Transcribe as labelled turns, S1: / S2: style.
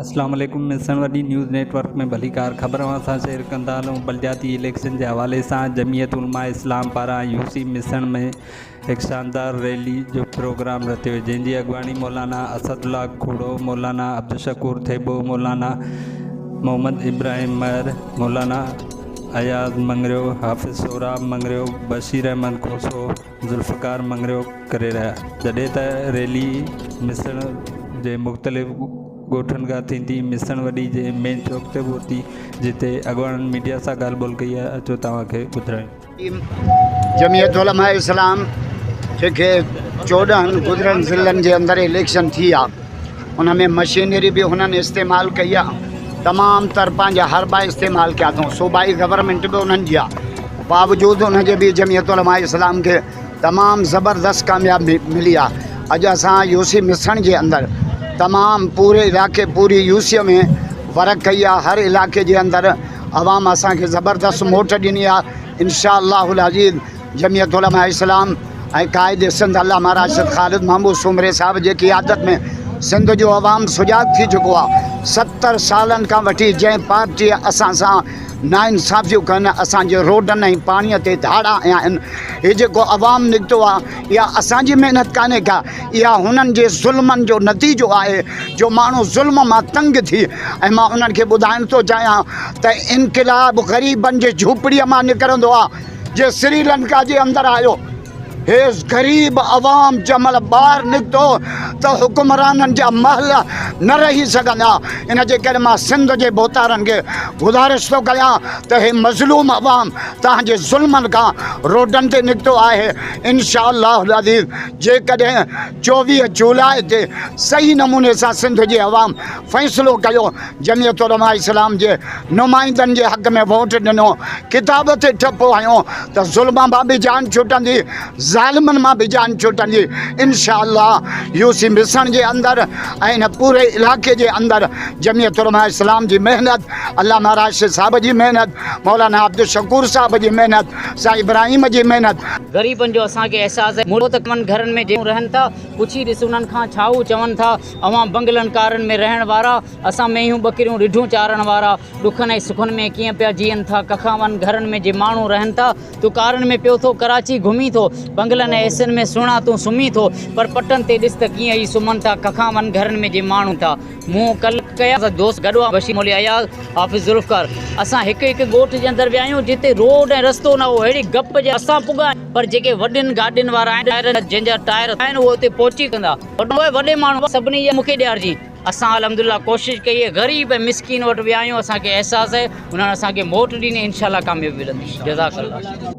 S1: اسلام عليڪم ملسڻ وڏي نيوز نيٽ ورڪ ۾ ڀليڪار خبر اوهان سان شيئر ڪندا هلون بلدياتي اليڪشن جي حوالي سان جمعيت علماء اسلام پاران يو سي ملسڻ ۾ هڪ شاندار ريلي جو پروگرام رٿيو جنهن جي اڳواڻي مولانا اسد الله کوڙو، مولانا عبدالشڪور ٿيٻو، مولانا محمد ابراهيم مهر، مولانا اياز مڱريو، حافظ سهراب مڱريو، بشير احمد کوسو، ذوالفقار مڱريو ڪري رهيا جڏهن ته ريلي ميسڻ جي مختلف ڳوٺن کان ٿيندي ميسڻ وڏي جي مين چوڪ تي پهتي جتي اڳواڻن ميڊيا سان ڳالهه ٻولهه ڪئي آهي اچو توهان کي ٻڌرايون. جمعيت
S2: علماء اسلام جنهن کي چوڏهن گذريل ضلعن جي اندر اليڪشن ٿي آ ان ۾ مشينري به هنن استعمال ڪئي آ تمام تر پنهنجا حربا استعمال ڪيا اٿئون صوبائي گورنمينٽ به انهن جي آ باوجود ان جي به جمعيت علماء اسلام کي تمام زبردست ڪامياب ملي آ اڄ اسان يوسي مسڻ جي اندر تمام پوري علائقي پوري يوسيء ۾ ورڪ ڪئي آ هر علائقي جي اندر عوام اسان کي زبردست موٽ ڏني آ انشاء الله العزيز جميعت علماء اسلام ۽ قائد سنڌ علامه راشد خالد محمود سومري صاحب جي قيادت ۾ سنڌ جو عوام سجاڳ ٿي چڪو آ ستر سالن کان وٺي جنهن پارٽي اسان سان ناانصافيون ڪن اسان جي روڊن ۽ پاڻي تي ڌاڙا هنيا آهن هي جيڪو عوام نڪتو آ اها اسان جي محنت ڪانهي ڪا اها هنن جي ظلمن جو نتيجو آهي جو ماڻهو ظلم مان تنگ ٿي ۽ مان انهن کي ٻڌائڻ ٿو چاهيان ته انقلاب غريبن جي جهوپڙيء مان نڪرندو آهي جي سري لنڪا جي اندر آيو هي غريب عوام جنهن مهل ٻاهر نڪتو ته حڪمرانن جا محل نه رهي سگهندا ان جي ڪري مان سنڌ جي ڀوتارن کي گذارش ٿو ڪيان ته هي مظلوم عوام توهان جي ظلمن کان روڊن تي نڪتو آهي انشاء الله العزيز جيڪڏهن چوويهه جولاء تي صحيح نموني سان سنڌ جي عوام فيصلو ڪيو، جمعيت علماء اسلام جي نمائندن جي حق ۾ ووٽ ڏنو، ڪتاب تي ٺپو هنيو ته ظلم مان به جان ڇٽندي، ظالمن مان به جان ڇٽندي، انشاء الله يو سي ميسڻ جي اندر ۽ هن پوري علائقي جي اندر جمعيت علماء اسلام جي محنت، علامه راشد صاحب جي محنت، مولانا عبدالشڪور صاحب جي محنت، سائين ابراهيم جي محنت. غريبن جو اسان
S3: کي احساس هي مڙو ته ڪمن گهرن ۾ جيئن رهن ٿا پڇي ڏس انهن کان ڇا هو چون ٿا اوهان بنگلن ڪارن ۾ رهڻ وارا اسان مينهون ٻڪريون رڍون چارڻ وارا ڏکن ۽ سکن ۾ ڪيئن پيا جيئن ٿا ڪکاون گهرن ۾ جي ماڻهون رهن ٿا تون ڪارن ۾ پيو ٿو ڪراچي گهمين ٿو بنگلن ۽ ايسين ۾ سهڻا تون سمهين ٿو پر پٽن تي ڏس ته ڪيئن ئي سمهن ٿا ڪکاون گهرن ۾ جي ماڻهون ٿا مون ڪل ڪيا سا دوست گڏهو بشير مولوي اياز حافظ ذوالفقار اسان هڪ هڪ ڳوٺ جي اندر ويا آهيون جتي روڊ ۽ رستو نه هو اهڙي گپ جي اسان پڳا آهيون پر جيڪي وڏين گاڏين وارا آهن ٽائرن جا جن جا ٽائر اٿا آهن اهي اتي پهچي ڪندا وڏو اي وڏي ماڻهو سڀني جي مونکي ڏيارجين اسان الحمدلله ڪوشش ڪئي اهي غريب ۽ مسڪين وٽ ويا آهيون اسان کي احساس اهي انهن اسان کي موٽ ڏني انشاءالله ڪاميابي ملندي جزاڪ الله